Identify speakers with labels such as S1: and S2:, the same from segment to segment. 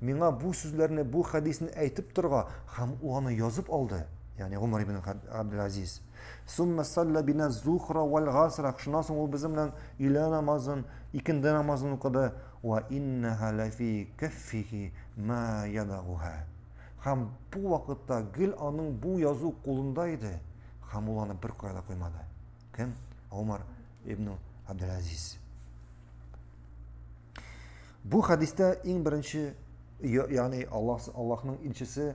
S1: Миңа бу сүзләрне, бу хәдисне әйтеп торга һәм ул аны язып алды. Ягъни Гомар ибн Абдул-Азиз. Сумма салла бина зухра вал гасра. Шуннан соң ул безнең белән илә намазын, икенде намазын укыды. Ва иннаха лафи каффихи ма ядагуха. Һәм бу вакытта гел аның бу язу кулында иде, һәм ул аны бер кая да куймады. Кем? Умар ибн Абдул-Азиз. Бу хәдистә иң беренче, ягъни Аллаһ Аллаһның илчесе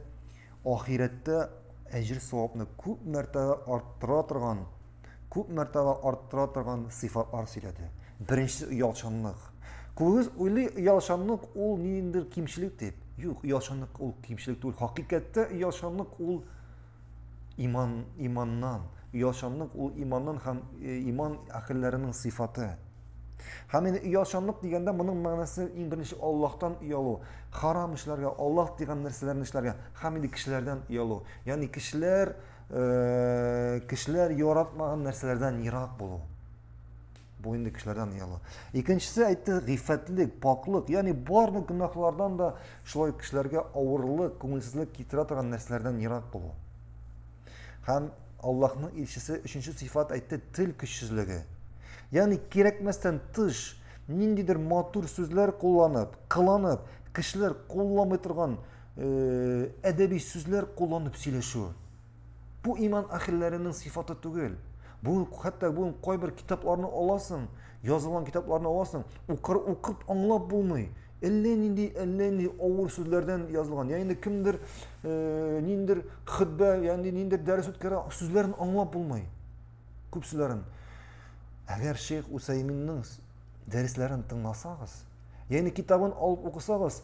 S1: ахирәттә әҗер савапны күп мәртәбә арттыра торган, күп мәртәбә арттыра торган сыйфатлар сөйләде. Беренче оялчанлык. Күбегез уйлый оялчанлык ул ниндидер кимчелек дип. Юк, оялчанлык ул кимчелек түгел. Хакыйкатьтә оялчанлык ул иман, иманнан, оялчанлык ул иманнан һәм э, иман әхелләренең сыйфаты. Һәм инде оялчанлык дигәндә моның мәгънәсе иң беренче Аллаһтан оялу, харам эшләргә, Аллаһ дигән нәрсәләрне эшләргә һәм инде кешеләрдән оялу. Ягъни кешеләр э, кешеләр яратмаган нәрсәләрдән ерак булу. Бу инде кешеләрдән ояла. Икенчесе әйтте, гыйффәтлек, пакьлык, ягъни барлык гөнаһлардан да шулай кешеләргә авырлык, күңелсезлек китерә торган нәрсәләрдән ерак булу. Һәм Аллаһның илчесе өченче сыйфат әйтте, тел көчсезлеге. Ягъни кирәкмәстән тыш ниндидер матур сүзләр кулланып, кыланып, кешеләр кулламый торган э, әдәби сүзләр кулланып сөйләшү. Бу иман әхелләренең сифаты түгел. Бүген хәтта бүген кайбер китапларны аласың, язылган китапларны аласың, укыр укып аңлап булмый. Әллә нинди, әллә нинди авыр сүзләрдән язылган. Ягъни инде кемдер э, ниндер хөтбә, ягъни ниндер дәрес үткәрә, сүзләрен аңлап булмый. Күп сүзләрен. Әгәр Шейх Усайминның дәресләрен тыңласагыз, ягъни китабын алып укысагыз,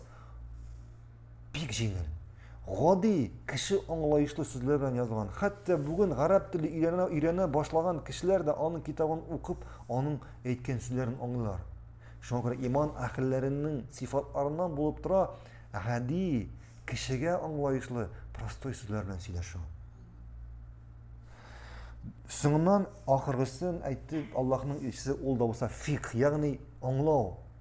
S1: Бик җиңел. Гади, кеше аңлаешлы сүзләр белән язылган. Хәтта бүген гарәп теле өйрәнә, өйрәнә башлаган кешеләр дә аның китабын укып, аның әйткән сүзләрен аңлыйлар. Шуңа күрә иман әһелләренең сифатларыннан булып тора гади, кешегә аңлаешлы, простой сүзләр белән сөйләшү. Соңыннан ахыргысын әйтте Аллаһның илчесе ул да булса фикх, ягъни аңлау.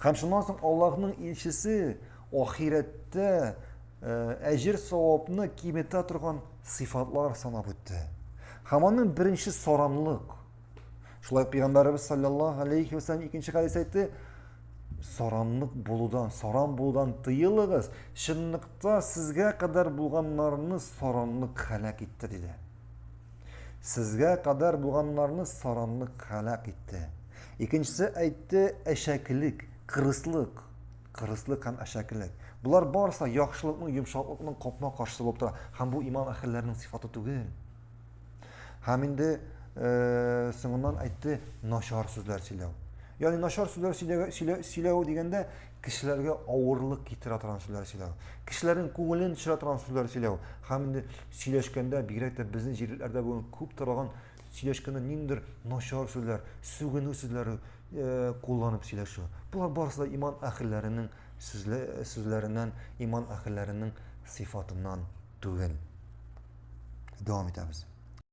S1: Һәм шуннан соң Аллаһның илчесе ахирәттә әҗер савапны киметә торган сыйфатлар санап үтте. Һәм аның беренче саранлык. Шулай пәйгамбәрбез саллаллаһу алейхи ва саллям икенче хәдис әйтте, саранлык булудан, саран булудан тыелыгыз, чынлыкта сезгә кадәр булганнарны саранлык хәлак итте диде. Сезгә кадәр булганнарны саранлык һәлак итте. Икенчесе әйтте, әшәкелек, кырыслык. Кырыслык һәм әшәкелек. Болар барысы яхшылыкның, йомшаклыкның капма каршысы булып тора. Һәм бу иман әһелләренең сыйфаты түгел. Һәм инде э, соңыннан әйтте, начар сүзләр сөйләү. Ягъни начар сүзләр сөйләү, сөйләү дигәндә кешеләргә авырлык китерә торган сүзләр сөйләү. Кешеләрнең күңелен төшерә торган сүзләр сөйләү. Һәм инде Сөйләшкәндә, бигрәк тә безнең җирләрдә бүген күп таралган сөйләшкәндә ниндидер начар сүзләр, сүгенү сүзләре э, кулланып сөйләшү. Болар барысы да иман әхелләренең сүзле, сүзләреннән, иман әхелләренең сыйфатыннан түгел. Дәвам итәбез.